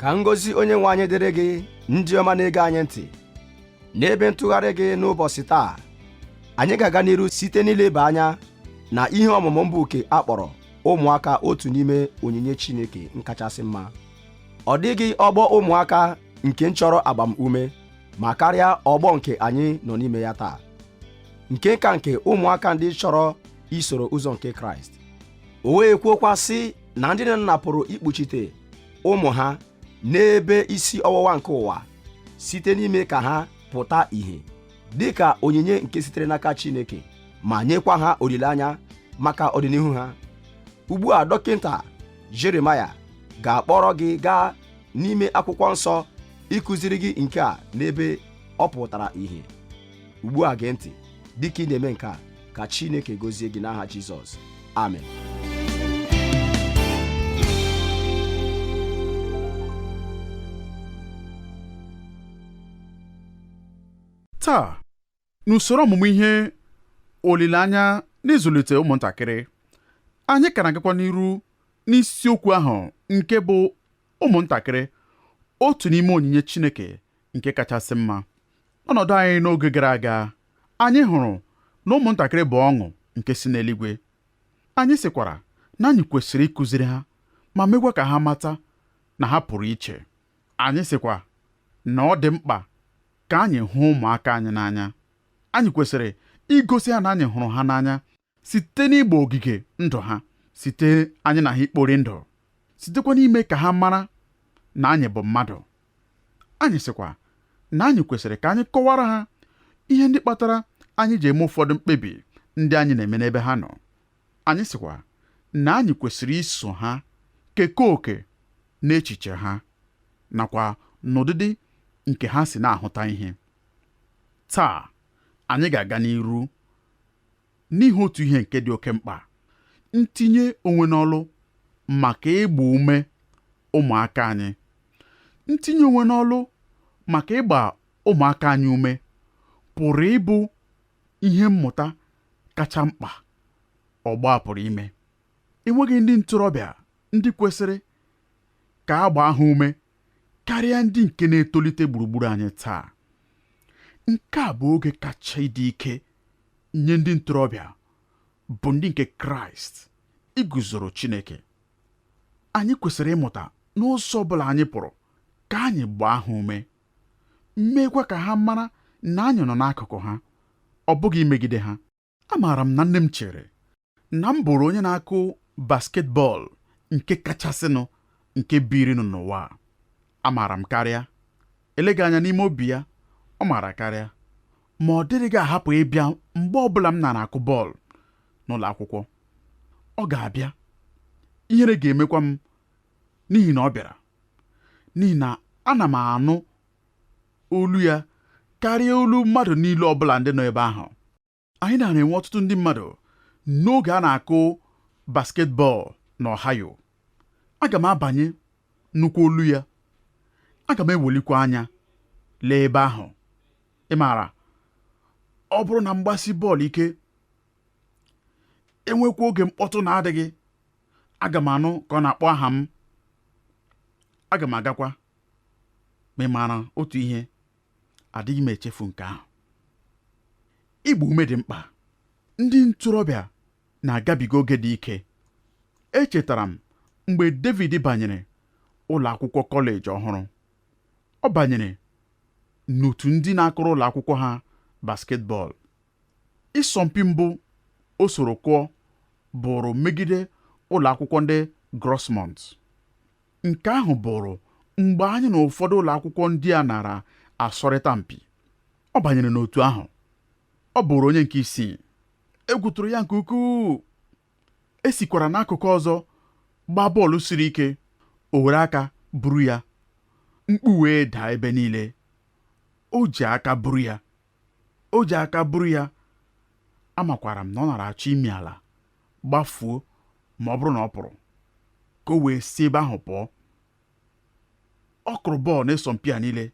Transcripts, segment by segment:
ka ngọzi onye nwe anyị dịrị gị ndị ọma na-ege anyị ntị n'ebe ntụgharị gị n'ụbọchị taa anyị ga-aga n'iru site n'ileba anya na ihe ọmụmụ mbụ nke a kpọrọ ụmụaka otu n'ime onyinye Chineke nkachasị mma ọ dịghị ọgbọ ụmụaka nke chọrọ agbamume ma karịa ọgbọ nke anyị nọ n'ime ya taa nke ka nke ụmụaka ndị chọrọ isoro ụzọ nke kraịst o wee kwuokwa sị na ndị nne na nna pụrụ ikpuchite ụmụ ha n'ebe isi ọwụwa nke ụwa site n'ime ka ha pụta ìhè dị ka onyinye nke sitere n'aka chineke ma nyekwa ha olileanya maka ọdịnihu ha ugbu a dọkịta jeremaya ga-akpọrọ gị gaa n'ime akwụkwọ nsọ ịkụziri gị nke a n'ebe ọ pụtara ìhè ugbu a gee ntị dịka ị na-eme nke a ka chineke gọzie gị n'aha jizọs amen taa n'usoro ọmụmụ ihe olileanya n'ịzụlite ụmụntakịrị anyị ka na-agakwa n'iru n'isiokwu ahụ nke bụ ụmụntakịrị otu n'ime onyinye Chineke nke kachasị mma n'ọnọdụ anyị n'oge gara aga anyị hụrụ na ụmụntakịrị bụ ọṅụ nke si n'eluigwe anyị sịkwara na anyị kwesịrị ịkụziri ha ma mekwa ka ha mata na ha pụrụ iche anyị sịkwa na ọ dị mkpa ka anyị hụ ụmụaka anyị n'anya anyị kwesịrị igosi ha na anyị hụrụ ha n'anya site n'ịgba ogige ndụ ha site anyị na ha ikpori ndụ sitekwa n'ime ka ha mara na anyị bụ mmadụ anyị sịkwa na anyị kwesịrị ka anyị kọwara ha ihe ndị kpatara anyị ji eme ụfọdụ mkpebi ndị anyị na-eme n'ebe ha nọ anyị sịkwa na anyị kwesịrị iso ha kekọọ oke n'echiche ha nakwa n'ụdịdị nke ha si na-ahụta ihe taa anyị ga-aga n'iru N'ihi otu ihe nke dị oke mkpa, ntinye onwe n'ọlụ maka ịgba ume ụmụaka anyị. Ntinye onwe n'ọlụ maka ịgba ụmụaka anyị ume pụrụ ịbụ ihe mmụta kacha mkpa ọgbọ a pụrụ ime. Enweghị ndị ntorobịa ndị kwesịrị ka a gbaa ha ume karịa ndị nke na-etolite gburugburu anyị taa. Nke a bụ oge kacha ịdị ike nye ndị ntorobịa bụ ndị nke kraịst iguzoro chineke anyị kwesịrị ịmụta n'ụzọ ọbụla anyị pụrụ ka anyị gbaa ha ume meekwa ka ha mara na anyị nọ n'akụkụ ha ọ bụghị imegide ha amaara m na nne m chere na m bụrụ onye na-akụ basketball nke kachasịnụ nke birinụ n'ụwa a. Amaara m karịa. Eleghị anya n'ime obi ya, ọ maara karịa. Ma ọ dịrịghị ahapụ ịbịa mgbe ọ bụla m nara akụ bọọlụ n'ụlọ akwụkwọ. Ọ ga-abịa. Ihere ga-emekwa m n'ihi na ọ bịara. N'ihi na ana m anụ olu ya karịa olu mmadụ niile ọ bụla ndị nọ ebe ahụ. anyị nara enwe ọtụtụ ndị mmadụ n'oge a na-akụ basketball na Ohio aga m abanye nnukwu olu ya aga m ewelikwa anya lee ebe ahụ ị maara ọ bụrụ na m gbasie bọọlụ ike enwekwa oge mkpọtụ na-adịghị aga m anụ ka ọ na-akpọ aha m aga m agakwa ma ị maara otu ihe adịghị m echefu nke ahụ ịgba ume dị mkpa ndị ntorobịa na-agabiga oge dị ike echetara m mgbe David banyere ụlọ akwụkwọ kọleji ọhụrụ ọ banyere n'otu ndị na-akụrụ ụlọ akwụkwọ ha basketball ịsọmpi mbụ o soro kụọ bụrụ megide ụlọ akwụkwọ ndị Grossmont Nke ahụ bụrụ mgbe anyị na ụfọdụ ụlọ akwụkwọ ndị a nara asọrịta mpi. Ọ banyere n'otu ahụ. Ọ bụrụ onye nke isii. Egwu tụrụ ya nke ukwuu. E sikwara n'akụkụ ọzọ gbaa bọọlụ siri ike. O were aka buru ya. Mkpu wee daa ebe niile. O ji aka buru ya. O ji aka buru ya. Amakwara m na ọ nara achọ imi ala. gbafuo ma ọ bụrụ na ọ pụrụ ka o wee si ebe ahụ pụọ ọ kụrụ bọọlụ n'ịsọmpi a niile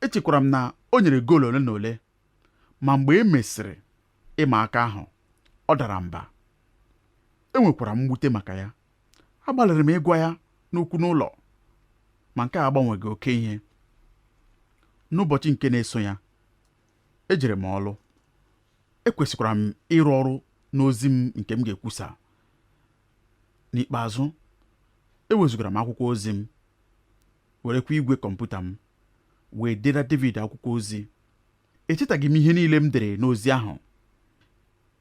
echekwara m na o nyere goolu ole na ole ma mgbe e mesịrị ịma aka ahụ ọ dara mba enwekwara m mwute maka ya agbalịrị m ịgwa ya n'okwu n'ụlọ ma nke a agbanweghị oke ihe n'ụbọchị nke na-eso ya ejere m ọrụ ekwesịkwara m ịrụ ọrụ n'ozi m nke m ga-ekwusa n'ikpeazụ ewezugara m akwụkwọ ozi m werekwa igwe kọmputa m wee dere David akwụkwọ ozi echetaghị m ihe niile m dere n'ozi ahụ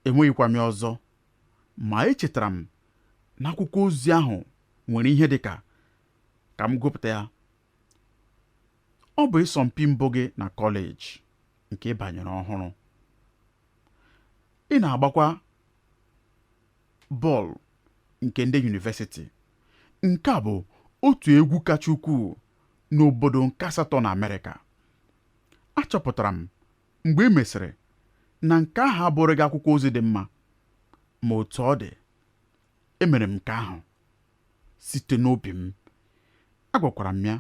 enweghịkwa m ya ọzọ ma echetara m na akwụkwọ ozi ahụ nwere ihe dị ka ka m gụpụta ya Ọ bụ ịsọmpi mbụ gị na kọleji nke ị banyere ọhụrụ. Ị na-agbakwa bọọlụ nke ndị yunivesiti. Nke a bụ otu egwu kacha ukwuu n'obodo nke asatọ na Amerịka. Achọpụtara m mgbe e mesịrị na nke ahụ abụrụghị akwụkwọ ozi dị mma, ma otu ọ dị, Emere m nke ahụ site n'obi m. Agwakwara m ya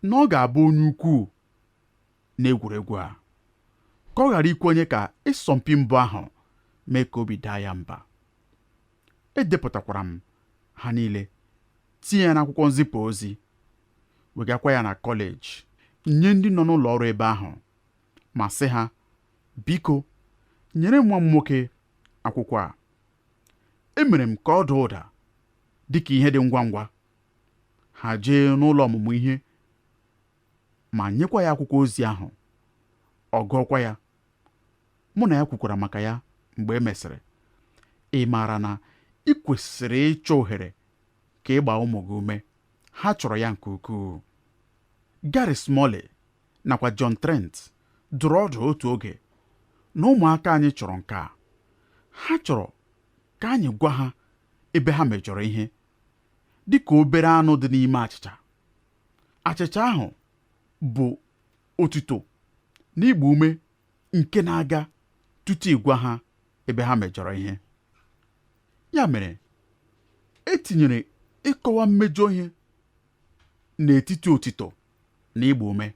na ọ ga-abụ onye ukwuu n'egwuregwu a, ka ọ ghara ikwenye ka ịsọmpi mbụ ahụ mee ka obi daa ya mba. Edepụtakwara m ha niile, tinye ya n'akwụkwọ nzipụ ozi, wegakwa ya na kọleji nye ndị nọ n'ụlọ ọrụ ebe ahụ ma sị ha, Biko, nyere nwa m nwoke akwụkwọ a. Emere m ka ọ daa ụda dị ka ihe dị ngwa ngwa. Ha jee n'ụlọ ọmụmụ ihe ma nyekwa ya akwụkwọ ozi ahụ. Ọ gụọkwa ya. Mụ na ya kwukwara maka ya mgbe e mesịrị. Ị maara na ị kwesịrị ịchọ ohere ka ị gbaa ụmụ gị ume. Ha chọrọ ya nke ukwuu. Gary Smalley nakwa John Trent dụrụ ọdụ otu oge na ụmụaka anyị chọrọ nke a ha chọrọ ka anyị gwa ha ebe ha mejọrọ ihe dị ka obere anụ dị n'ime achịcha achịcha ahụ bụ otuto na ịgba ume nke na-aga tutu ịgwa ha ebe ha mejọrọ ihe ya mere etinyere ịkọwa mmejọ ihe n'etiti otito na ịgba ume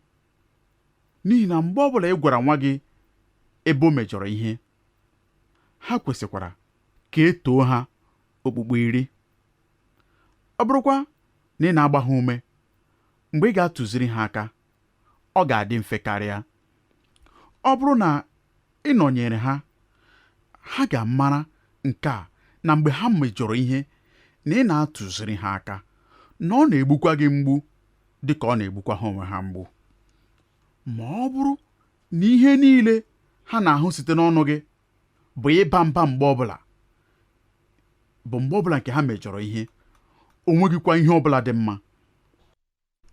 n'ihi na mgbe ọbụla ị gwara nwa gị ebe o mejọrọ ihe ha kwesịkwara ka e too ha okpukpu iri ọ bụrụkwa na ị na-agba ha ume mgbe ị ga-atụziri ha aka ọ ga-adị mfe karịa ọ bụrụ na ị nọnyere ha ha ga-amara nke a na mgbe ha mejọrọ ihe na ị na-atụziri ha aka na ọ na-egbukwa gị mgbu dị ka ọ na-egbukwa ha onwe ha mgbu ma ọ bụrụ na ihe niile ha na-ahụ site n'ọnụ gị bụ ịba mba mgbe ọbụla bụ mgbe ọbụla nke ha mejọrọ ihe o nweghịkwa ihe ọbụla dị mma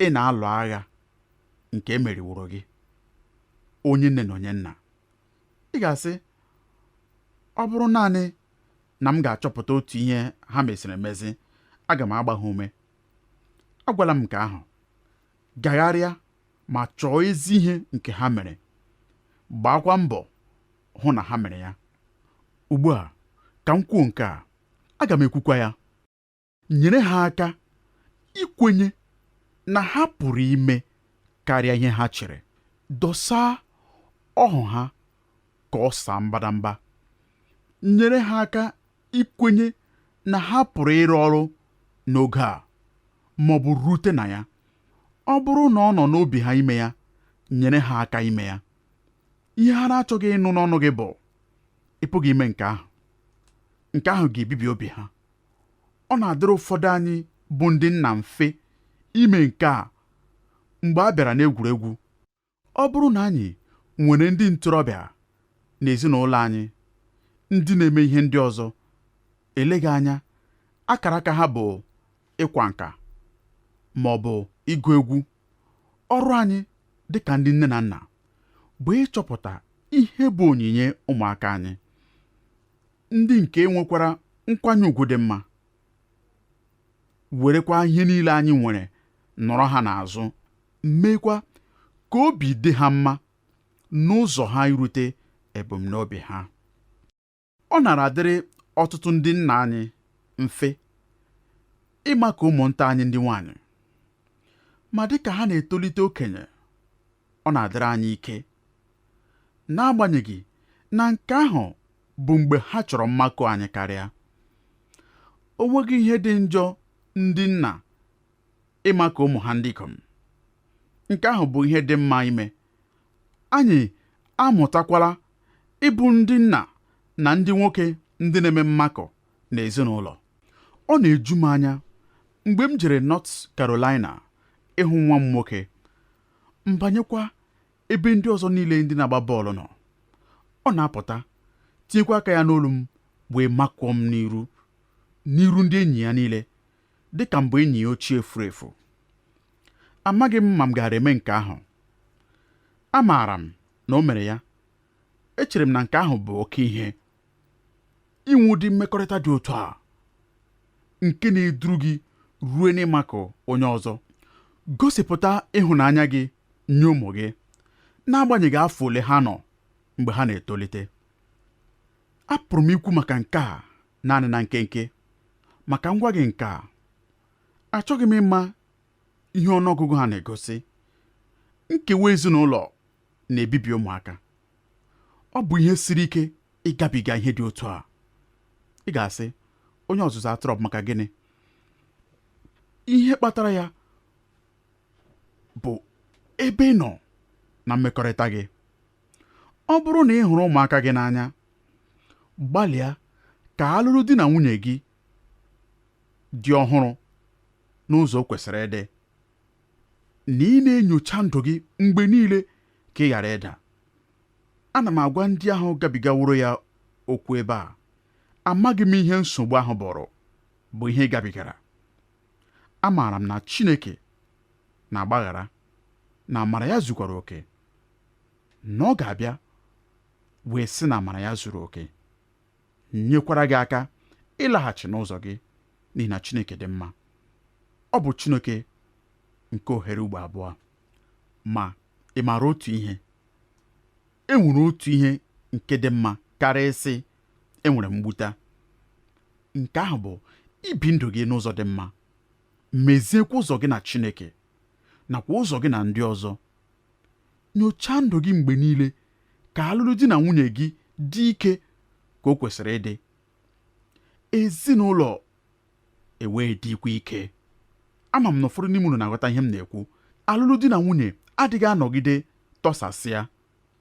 ị na-alụ agha nke emeriworo gị onye nne na onye nna ị ga-asị ọ bụrụ naanị na m ga-achọpụta otu ihe ha meziri emezi aga m agba ha ume agwala m nke ahụ gagharịa ma chọọ ezi ihe nke ha mere gbaakwa mbọ hụ na ha mere ya ugbu a ka m kwuo nke a aga m ekwukwa ya nyere ha aka ikwenye na ha pụrụ ime karịa ihe ha chere dọsaa ọhụ ha ka ọ saa mbadamba nyere ha aka ikwenye na ha pụrụ ịrụ ọrụ n'oge a ma ọ bụ rute na ya ọ bụrụ na ọ nọ n'obi ha ime ya nyere ha aka ime ya ihe ha na-achọghị ịnụ n'ọnụ gị bụ ị pụghị ime nke ahụ nke ahụ ga-ebibi obi ha ọ na-adịrị ụfọdụ anyị bụ ndị nna mfe ime nke a mgbe a bịara n'egwuregwu Ọ bụrụ na anyị nwere ndị ntorobịa n'ezinụlọ anyị ndị na-eme ihe ndị ọzọ, eleghị anya akara aka ha bụ ịkwa nka ma ọ bụ ịgụ egwu, ọrụ anyị dị ka ndị nne na nna bụ ịchọpụta ihe bụ onyinye ụmụaka anyị, ndị nke nwekwara nkwanye ugwu dị mma. werekwa ihe niile anyị nwere nọrọ ha n'azụ meekwa ka obi dị ha mma n'ụzọ ha irute ebumnobi ha ọ nara adịrị ọtụtụ ndị nna anyị mfe ịmakụ ụmụnta anyị ndị nwanyị ma dị ka ha na-etolite okenye ọ na-adịrị anyị ike n'agbanyeghị na nke ahụ bụ mgbe ha chọrọ mmakụ anyị karịa o nweghị ihe dị njọ ndị nna ịmakụ ụmụ ha ndị ikom nke ahụ bụ ihe dị mma ime anyị amụtakwala ịbụ ndị nna na ndị nwoke ndị na-eme mmakụ n'ezinụlọ ọ na-eju m anya mgbe m jere North Carolina ịhụ nwa m nwoke m banyekwa ebe ndị ọzọ niile ndị na-agba bọọlụ nọ ọ na-apụta tinyekwa aka ya n'olu m wee makụọ m n'iru n'iru ndị enyi ya niile dị ka m bụ enyi ya ochie furu efu amaghị m ma m gaara eme nke ahụ amaara m na o mere ya echere m na nke ahụ bụ oke ihe inwe ụdị mmekọrịta dị otu a nke na-eduru gị ruo n'ịmakụ onye ọzọ gosipụta ịhụnanya gị nye ụmụ gị n'agbanyeghị afọ ole ha nọ mgbe ha na-etolite apụrụ m ikwu maka nke a naanị na nkenke ma ka m gwa gị nke a achọghị m ịma ihe ọnụọgụgụ ha na-egosi nkewa ezinụlọ na-ebibi ụmụaka. Ọ bụ ihe siri ike ịgabiga ihe dị otu a. Ị ga-asị, onye ọzụzụ atụrụ, ọ bụ maka gịnị? Ihe kpatara ya bụ ebe ị nọ na mmekọrịta gị. Ọ bụrụ na ị hụrụ ụmụaka gị n'anya, gbalịa ka alụlụ di na nwunye gị dị ọhụrụ n'ụzọ o kwesịrị ịdị. na ị na-enyocha ndụ gị mgbe niile ka ị ghara ịda. Ana m agwa ndị ahụ gabigaworo ya okwu ebe a, amaghị m ihe nsogbu ahụ bụrụ, bụ ihe ị gabigara. Amaara m na Chineke na-agbaghara, na amara ya zukwara oke, na ọ ga-abịa wee sị na amara ya zuru oke. nyekwara gị aka ịlaghachi n'ụzọ gị n'ihi na Chineke dị mma ọ bụ Chineke nke ohere ugbo abụọ ma ị maara otu ihe e nwere otu ihe nke dị mma karịa ịsị enwere m mgbuta nke ahụ bụ ibi ndụ gị n'ụzọ dị mma meziekwa ụzọ gị na Chineke nakwa ụzọ gị na ndị ọzọ Nyochaa ndụ gị mgbe niile ka alụlụ di na nwunye gị dị ike ka o kwesịrị ịdị, ezinụlọ ewee dịkwa ike. Ama m na ụfọdụ n'ime unu na-aghọta ihe m na-ekwu. Alụlụ di na nwunye adịghị anọgide tọsasịa.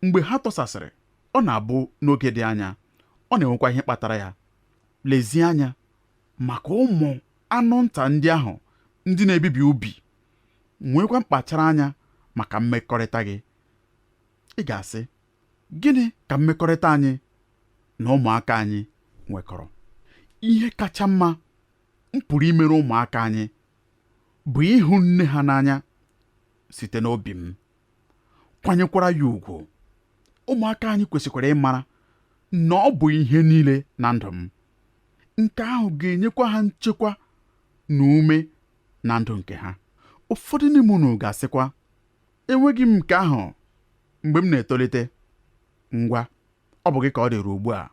Mgbe ha tọsasịrị, ọ na-abụ n'oge dị anya, ọ na-enwekwa ihe kpatara ya. Lezie anya maka ụmụ anụ nta ndị ahụ ndị na-ebibi ubi nweekwa mkpachara anya maka mmekọrịta gị ị ga-asị gịnị ka mmekọrịta anyị na ụmụaka anyị nwekọrọ ihe kacha mma m pụrụ imere ụmụaka anyị bụ ịhụ nne ha n'anya site n'obi m kwanyekwara ya ugwu ụmụaka anyị kwesịkwara ịmara na ọ bụ ihe niile na ndụ m nke ahụ ga-enyekwa ha nchekwa na ume na ndụ nke ha ụfọdụ n'ime unu ga-asịkwa enweghị m nke ahụ mgbe m na-etolite ngwa ọ bụ gị ka ọ dịrị ugbu a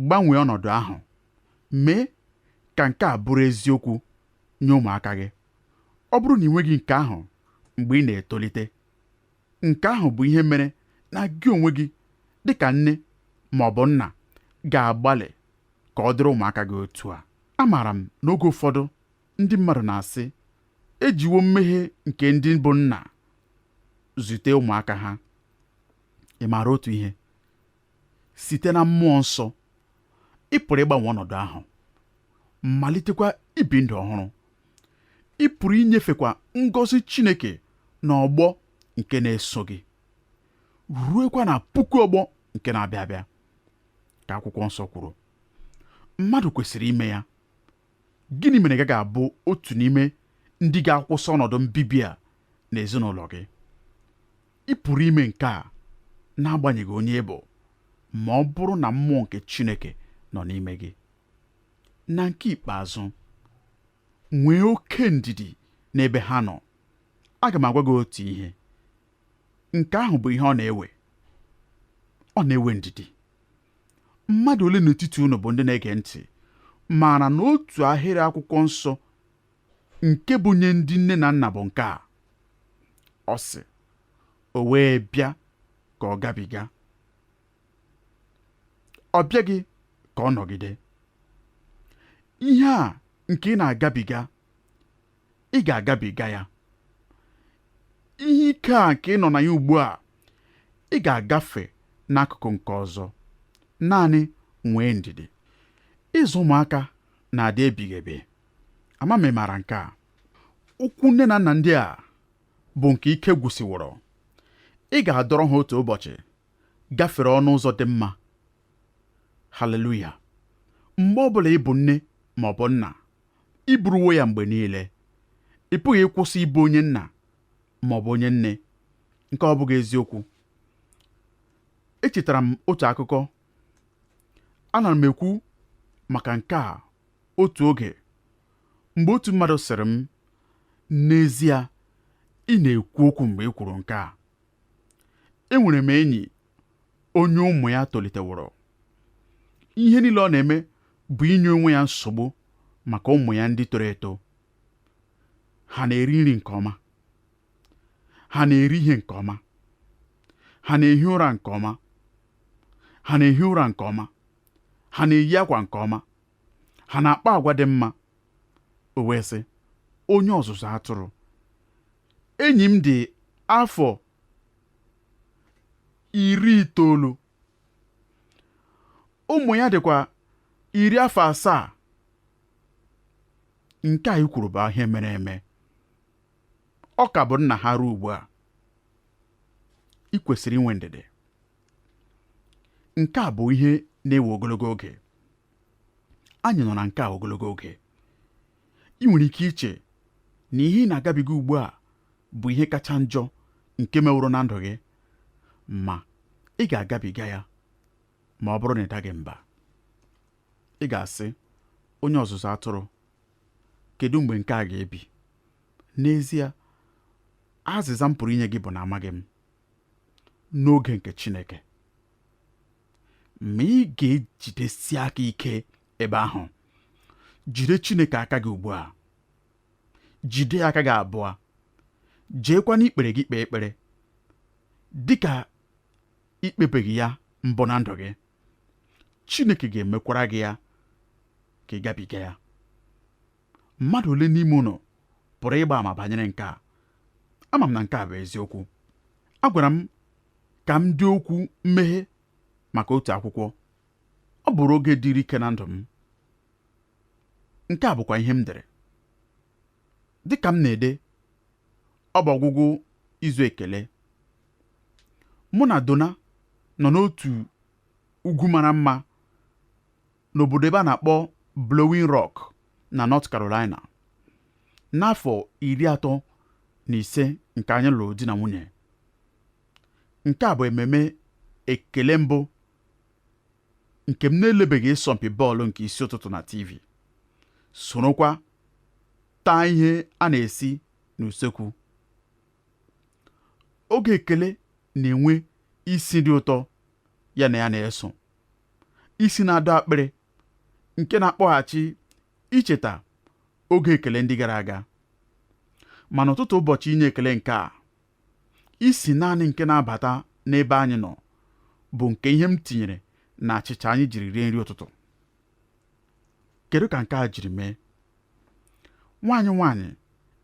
gbanwee ọnọdụ ahụ mee ka nke a bụrụ eziokwu nye ụmụaka gị ọ bụrụ na i nweghị nke ahụ mgbe ị na-etolite nke ahụ bụ ihe mere na gị onwe gị dị ka nne ma ọ bụ nna ga-agbalị ka ọ dịrị ụmụaka gị otu a amaara m n'oge ụfọdụ ndị mmadụ na-asị e jiwo mmehie nke ndị bụ nna zute ụmụaka ha ị maara otu ihe site na mmụọ nsọ ị pụrụ ịgbanwe ọnọdụ ahụ malitekwa ibi ndụ ọhụrụ ị pụrụ inyefekwa ngọzi Chineke na ọgbọ nke na-eso gị ruekwa na puku ọgbọ nke na-abịa abịa ka akwụkwọ nsọ kwuru mmadụ kwesịrị ime ya Gịnị mere ị gaghị abụ otu n'ime ndị ga-akwụsị ọnọdụ mbibi a n'ezinụlọ gị? Ị pụrụ ime nke a n'agbanyeghị onye ị bụ ma ọ bụrụ na mmụọ nke Chineke nọ n'ime gị. Na nke ikpeazụ, nwee oke ndidi n'ebe ha nọ. Aga m agwa gị otu ihe. nke ahụ bụ ihe ọ na-ewe ọ na-ewe ndidi mmadụ ole n'etiti unu bụ ndị na-ege ntị maara na otu ahịrị akwụkwọ nsọ nke bụ nye ndị nne na nna bụ nke a ọ sị o wee bịa ka ọ gabiga ọ bịaghị ka ọ nọgide ihe a nke ị na-agabiga ị ga-agabiga ya ihe ike a nke ị nọ na ya ugbu a ị ga-agafe n'akụkụ nke ọzọ naanị nwee ndidi ịzụ ụmụaka na-adị ebighị ebi ama m ị maara nke a ụkwụ nne na nna ndị a bụ nke ike gwụsịworo ị ga-adọrọ ha otu ụbọchị gafere ọnụ ụzọ dị mma haleluya mgbe ọ bụla ị bụ nne ma ọ bụ nna Ị bụrụwo ya mgbe niile. Ị pụghị ịkwụsị ịbụ onye nna ma ọ bụ onye nne. Nke ọ bụghị eziokwu? Echetara m otu akụkọ. Ana m ekwu maka nke a otu oge mgbe otu mmadụ sịrị m, N'ezie, ị na-ekwu okwu mgbe ị kwuru nke a. enwere m enyi onye ụmụ ya toliteworo ihe niile ọ na-eme bụ inye onwe ya nsogbu maka ụmụ ya ndị toro eto ha na-eri nri nke ọma ha na-eri ihe nke ọma ha na-ehi ụra nke ọma ha na-ehi ụra nke ọma ha na-eyi akwa nke ọma ha na-akpa agwa dị mma o wee sị onye ọzụzụ atụrụ enyi m dị afọ iri itoolu ụmụ ya dịkwa iri afọ asaa nke a i kwuru bụ ihe mere eme ọ ka bụ nna ha ruo ugbu a ị kwesịrị inwe ndidi nke a bụ ihe na-ewe ogologo oge anyị nọ na nke a ogologo oge i nwere ike iche na ihe ị na-agabiga ugbu a bụ ihe kacha njọ nke meworo na ndụ gị ma ị ga-agabiga ya ma ọ bụrụ na ị daghị mba ị ga-asị onye ọzụzụ atụrụ kedu mgbe nke a ga-ebi n'ezie azịza m pụrụ inye gị bụ na amaghị m n'oge nke Chineke ma ị ga-ejidesi aka ike ebe ahụ jide Chineke aka gị ugbu a jide aka gị abụọ jeekwa n'ikpere gị kpee ekpere dịka i kpebeghị ya mbụ na ndụ gị Chineke ga-emekwara gị ya ka ị gabiga ya mmadụ ole n'ime unu pụrụ ịgba ama banyere nke a ama m na nke a bụ eziokwu a gwara m ka m dee okwu mmeghe maka otu akwụkwọ ọ bụrụ oge dịrị ike na ndụ m nke a bụkwa ihe m dere dị ka m na-ede ọ bụ ọgwụgwụ izu ekele mụ na Donna nọ n'otu ugwu mara mma n'obodo ebe a na-akpọ Blowing Rock na North Carolina. N'afọ iri atọ na ise nke anyị lụrụ di na nwunye, nke a bụ ememe ekele mbụ nke m na-elebeghị ịsọmpi bọọlụ nke isi ụtụtụ na TV, sorokwa taa ihe a na-esi n'usekwu. Oge ekele na-enwe isi dị ụtọ ya na ya na-eso. isi na-adọ akpịrị nke na-akpọghachi icheta oge ekele ndị gara aga ma n'ụtụtụ ụbọchị inye ekele nke a isi naanị nke na-abata n'ebe anyị nọ bụ nke ihe m tinyere na achịcha anyị jiri rie nri ụtụtụ kedu ka nke a jiri mee nwa anyị nwaanyị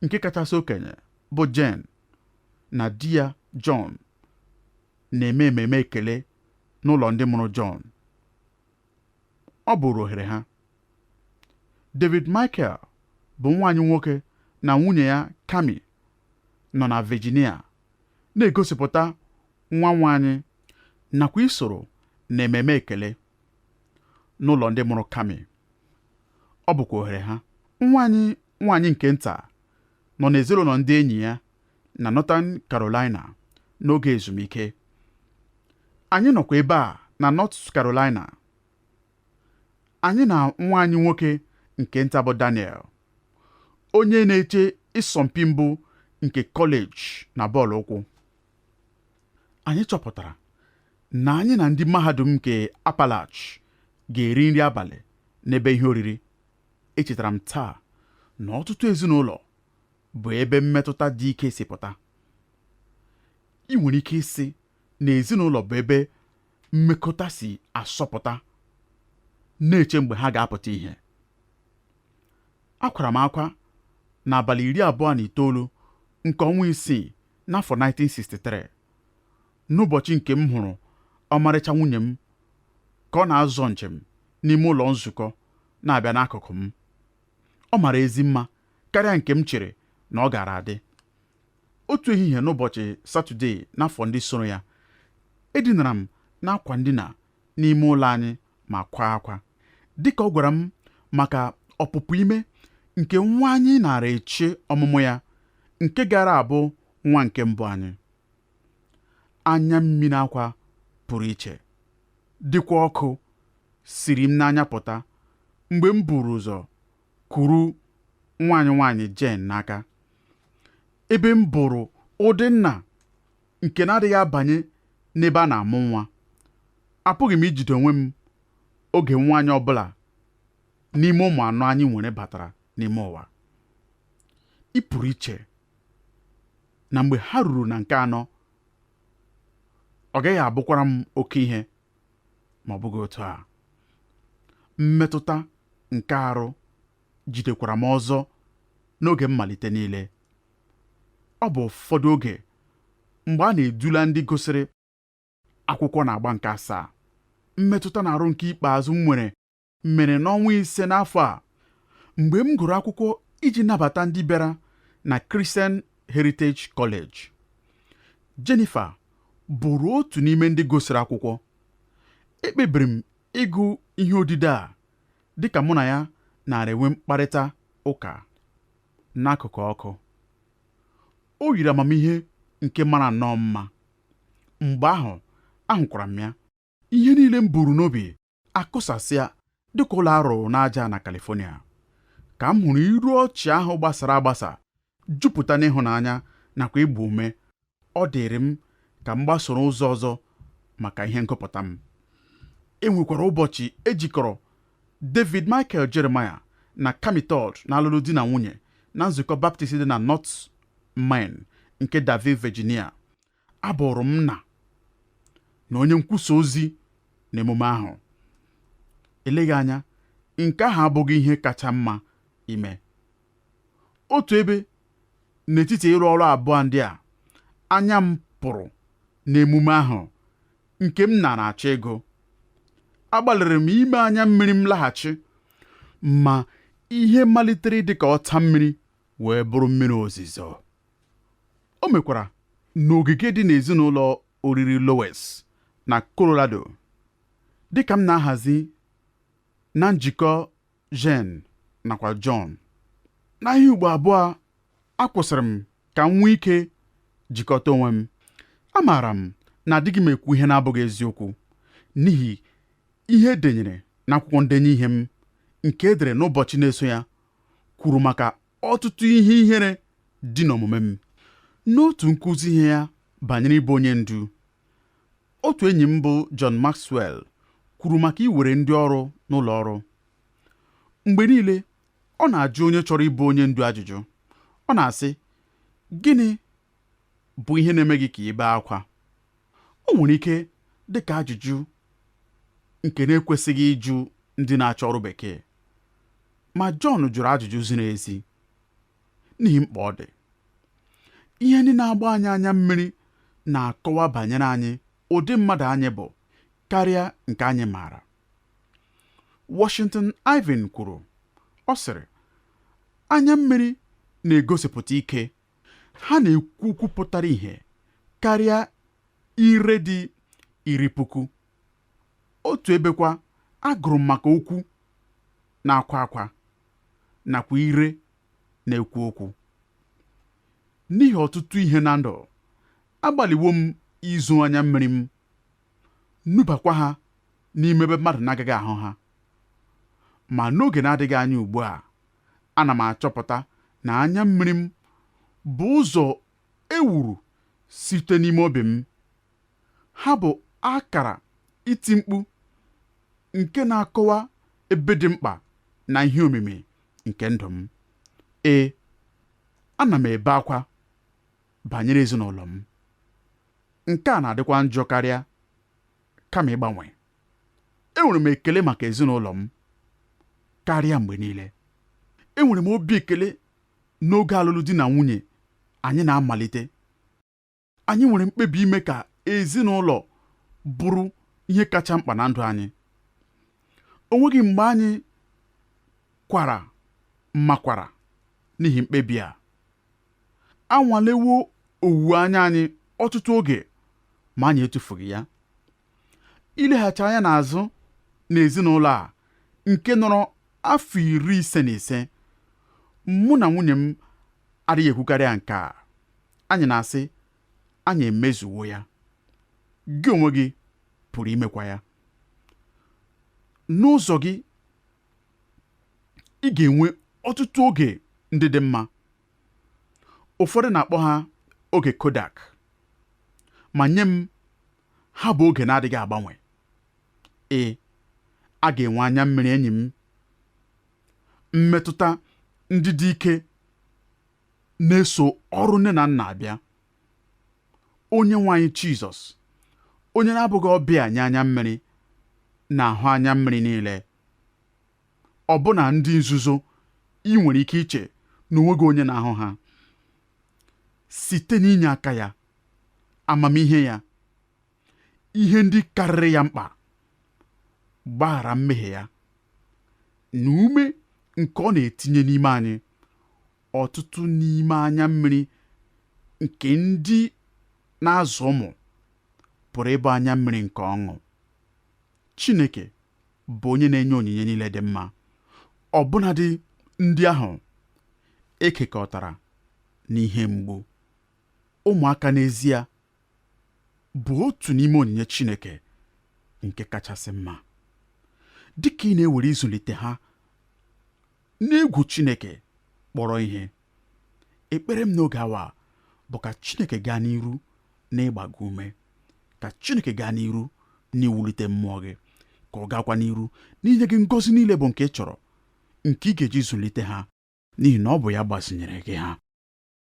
nke kachasị okenye bụ Jan na di ya John na-eme ememe ekele n'ụlọ ndị mụrụ John. Ọ bụrụ ohere ha. David Michael bụ nwa anyị nwoke na nwunye ya Cami nọ na Virginia na-egosipụta nwa nwa anyị nakwa isoro na ememe ekele n'ụlọ ndị mụrụ Cami. Ọ bụkwa ohere ha. Nwa anyị nwaanyị nke nta nọ n'ezinụlọ ndị enyi ya na Northern Carolina n'oge ezumike. Anyị nọkwa ebe a na North Carolina. Anyị na nwa anyị nwoke nke nta bụ Daniel, onye na-eche ịsọmpi mbụ nke kọleji na bọọlụ ụkwụ. Anyị chọpụtara na anyị na ndị mahadum nke Appalach ga-eri nri abalị n'ebe ihe oriri. Echetara m taa na ọtụtụ ezinụlọ bụ ebe mmetụta dị ike si pụta ị nwere ike ịsị na ezinụlọ bụ ebe mmekọta si asọpụta na-eche mgbe ha ga-apụta ihe akwara m akwa n'abalị iri abụọ na itoolu nke ọnwa isii n'afọ 1963 n'ụbọchị nke m hụrụ ọmarịcha nwunye m ka ọ na-azọ njem n'ime ụlọ nzukọ na-abịa n'akụkụ m Ọ mara ezi mma karịa nke m chere na ọ gaara adị. Otu ehihie n'ụbọchị Satọdee n'afọ ndị soro ya, edinara m n'akwa ndina n'ime ụlọ anyị ma kwaa akwa. Dị ka ọ gwara m maka ọpụpụ ime nke nwa anyị naara eche ọmụmụ ya, nke gaara abụ nwa nke mbụ anyị. anya mmiri akwa pụrụ iche dịkwa ọkụ siri m n'anya pụta mgbe m buru ụzọ kuru nwa anyị nwaanyị Jen n'aka ebe m bụrụ ụdị nna nke na-adịghị abanye n'ebe a na-amụ nwa apụghị m ijide onwe m oge nwa anyị ọ bụla n'ime ụmụ anọ anyị nwere batara n'ime ụwa ị pụrụ iche na mgbe ha ruru na nke anọ ọ gaghị abụkwara m oke ihe ma ọ bụghị otu a mmetụta nke arụ jidekwara m ọzọ n'oge mmalite niile ọ bụ ụfọdụ oge mgbe a na-edula ndị gụsịrị akwụkwọ n'agba nke asaa mmetụta n'arụ nke ikpeazụ m nwere mere n'ọnwa ise n'afọ a mgbe m gụrụ akwụkwọ iji nabata ndị bịara na Christian Heritage College. Jennifer bụrụ otu n'ime ndị gụsịrị akwụkwọ. Ekpebiri m ịgụ ihe odide a dịka mụ na ya naara enwe mkparịta ụka n'akụkụ ọkụ. O yiri amamihe nke mara nnọọ mma. Mgbe ahụ, ahụkwara m ya. ihe niile m buru n'obi akụsasịa dịka ụlọ a rụrụ n'aja na California ka m hụrụ iru ọchị ahụ gbasara agbasa jupụta n'ịhụnanya nakwa ịgba ume ọ dịrị m ka m gbasoro ụzọ ọzọ maka ihe ngụpụta m e nwekwara ụbọchị e jikọrọ David Michael Jeremiah na Cami Todd n'alụlụ di na nwunye na nzukọ Baptist dị na North Main nke Danville, Virginia. Abụrụ m nna na onye nkwusa ozi n'emume ahụ. Eleghị anya, nke ahụ abụghị ihe kacha mma ime. Otu ebe n'etiti ịrụ ọrụ abụọ ndị a, anya m pụrụ n'emume ahụ nke m na-achọ ịgụ. Agbalịrị m ime anya mmiri m laghachi, ma ihe malitere dị ka ọta mmiri wee bụrụ mmiri ozizo. O mekwara n'ogige dị n'ezi n'ụlọ oriri Loews na Colorado. Dị ka m na-ahazi na njikọ Jan nakwa John, n'ihe ugbo abụọ akwụsịrị m ka m nwee ike jikọta onwe m. Amaara m na adịghị m ekwu ihe na-abụghị eziokwu n'ihi ihe e denyere n'akwụkwọ ndenye ihe m nke e dere n'ụbọchị na-eso ya kwuru maka ọtụtụ ihe ihere dị n'omume m n'otu nkụzi ihe ya banyere ịbụ onye ndu otu enyi m bụ John Maxwell kwuru maka iwere ndị ọrụ n'ụlọ ọrụ mgbe niile ọ na-ajụ onye chọrọ ịbụ onye ndu ajụjụ ọ na-asị gịnị bụ ihe na-eme gị ka ị bee akwa O nwere ike dị ka ajụjụ nke na-ekwesịghị ịjụ ndị na-achọ ọrụ bekee, ma John jụrụ ajụjụ ziri ezi n'ihi mkpa ọ dị. Ihe ndị na-agba anyị anya mmiri na-akọwa banyere anyị ụdị mmadụ anyị bụ karịa nke anyị maara. Washington Irving kwuru, ọ sịrị, Anya mmiri na-egosipụta ike ha na-ekwu okwu pụtara ihe karịa ire dị iri puku otu ebekwa agụrụ m maka okwu na-akwa akwa nakwa ire na-ekwu okwu n'ihi ọtụtụ ihe na ndụ agbalịwo m izo anya mmiri m nubakwa ha n'ime ebe mmadụ na-agaghị ahụ ha ma n'oge na-adịghị anya ugbu a ana m achọpụta na anya mmiri m bụ ụzọ ewuru site n'ime obi m. Ha bụ akara iti mkpu nke na-akọwa ebe dị mkpa na ihe omimi nke ndụ m. Ee, ana m ebe akwa banyere ezinụlọ m. Nke a na-adịkwa njọ karịa kama ịgbanwe. enwere m ekele maka ezinụlọ m karịa mgbe niile enwere m obi ekele n'oge alụlụ di na nwunye anyị na-amalite anyị nwere mkpebi ime ka ezinụlọ bụrụ ihe kacha mkpa na ndụ anyị o nweghị mgbe anyị kwara mmakwara n'ihi mkpebi a anwalewo owuwe anya anyị ọtụtụ oge ma anyị etufughị ya ileghachi anya n'azụ n'ezinụlọ a nke nọrọ afọ iri ise na ise mụ na nwunye m adịghị ekwukarịa nke a anyị na-asị anyị emezuwo ya gị onwe gị pụrụ imekwa ya n'ụzọ gị ị ga-enwe ọtụtụ oge ndị dị mma ụfọdụ na-akpọ ha oge kodak ma nye m Ha bụ oge na-adịghị agbanwe. Ee, a ga-enwe anya mmiri enyi m. Mmetụta ndị dị ike na-eso ọrụ nne na nna abịa. Onye nwe anyị Jizọs, onye na-abụghị ọbịa nye anya mmiri, na-ahụ anya mmiri niile. Ọbụna ndị nzuzo i nwere ike iche na o nweghị onye na-ahụ ha. Site n'inye aka ya, amamihe ya ihe ndị karịrị ya mkpa mgbaghara mmehie ya na ume nke ọ na-etinye n'ime anyị ọtụtụ n'ime anya mmiri nke ndị na-azụ ụmụ pụrụ ịbụ anya mmiri nke ọṅụ Chineke bụ onye na-enye onyinye niile dị mma ọbụnadị ndị ahụ ekekọtara n'ihe mgbu Ụmụaka n'ezie bụ otu n'ime onyinye Chineke nke kachasị mma. Dị ka ị na-ewere ịzụlite ha n'egwu Chineke kpọrọ ihe, ekpere m n'oge awa a bụ ka Chineke gaa n'iru n'ịgba gị ume, ka Chineke gaa n'iru n'iwulite mmụọ gị, ka ọ gaakwa n'iru n'inye gị ngọzi niile bụ nke ị chọrọ, nke ị ga-eji zụlite ha, n'ihi na ọ bụ ya gbazinyere gị ha.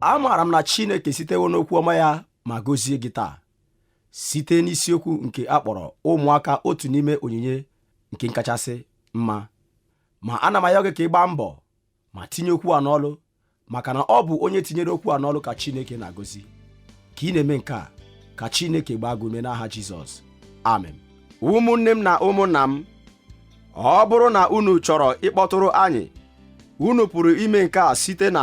amaara m na Chineke sitewo n'okwu ọma ya ma gozie gị taa site n'isiokwu nke a kpọrọ ụmụaka otu n'ime onyinye nke kachasị mma ma ana m ayọ gị ka ị gbaa mbọ ma tinye okwu a n'ọlụ maka na ọ bụ onye tinyere okwu a n'ọlụ ka Chineke na-agọzi ka ị na-eme nke a ka Chineke gbaa gị ume n'aha Jizọs amen ụmụnne m na ụmụnna m ọ bụrụ na unu chọrọ ịkpọtụrụ anyị unu pụrụ ime nke a site na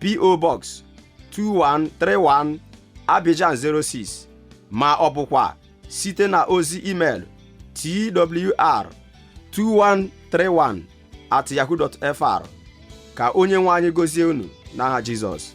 PO Box 2131 Abidjan 06 ma ọ bụkwa site na ozi email twr 2131 at yahoo.fr ka onye nwe anyị gozie unu n'aha Jizọs